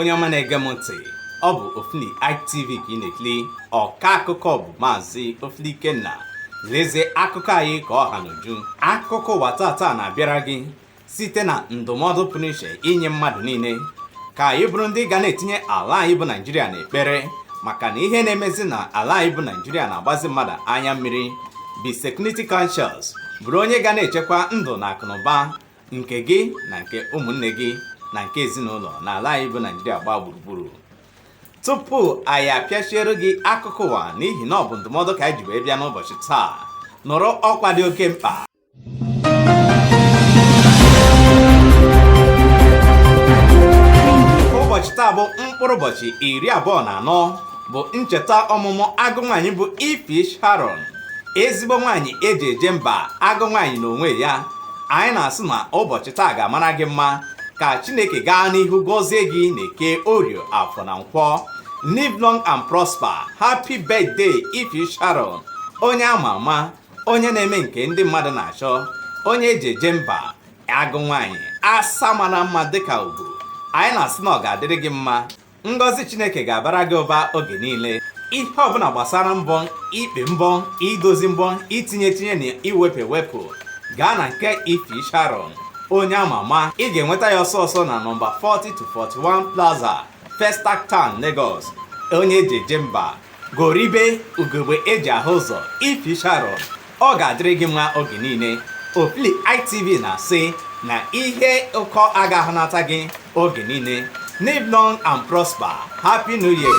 onye ọma na-ege m ntị ọ bụ Ofili ITV ka ị na-ekiri ọka akụkọ bụ maazị Ofili Ikenna lezie akụkọ anyị ka ọ ha n'uju akụkọ ụwa tata na-abịara gị site na ndụmọdụ pụrụ iche inye mmadụ niile ka anyị bụrụ ndị ga na-etinye ala anyị bụ naijiria n'ekpere maka na ihe na-emezi na ala anyị bụ naijiria na-agbazi mmadụ anya mmiri be security conscious bụrụ onye ga na-echekwa ndụ na akụnụba nke gị na nke ụmụnne gị na nke ezinụlọ na ala anyị bụ naijiria gbaa gburugburu tupu anyị apịachiere gị akụkọ ụwa n'ihi na ọ bụ ndụmọdụ ka anyị ji wee bịa n'ụbọchị taa nụrụ ọkwa dị oke mkpa ụbọchị taa bụ mkpụrụ ụbọchị iri abụọ na anọ bụ ncheta ọmụmụ agụ nwaanyị bụ Ify Sharon ezigbo nwaanyị eji eje mba agụ nwaanyị n'onwe ya anyị na-asị na ụbọchị taa ga-amara gị mma ka Chineke gaa n'ihu gọzie gị na eke orie afọ na nkwọ live long and prosper happy birthday Ify Sharon onye ama ama onye na-eme nke ndị mmadụ na-achọ onye eji eje mba agụ nwaanyị asa mara mma dịka ugo anyị na-asị na ọ ga-adịrị gị mma ngọzi chineke ga-abara gị ụba oge niile ihe ọbụla gbasara mbọ ikpe mbọ idozi mbọ itinye etinye na iwepụ ewepụ gaa na nke Ify Sharon onye ama ama ị ga-enweta ya ọsọ ọsọ na nọmba 40 to 41 plaza Festac Town Lagos onye eji eje mba Goribe ugegbe eji ahụ ụzọ Ify Sharon ọ ga-adịrị gị mma oge niile Ofili ITV na-asị na ihe ụkọ agaghị anata gị oge niile live long and prosper happy new year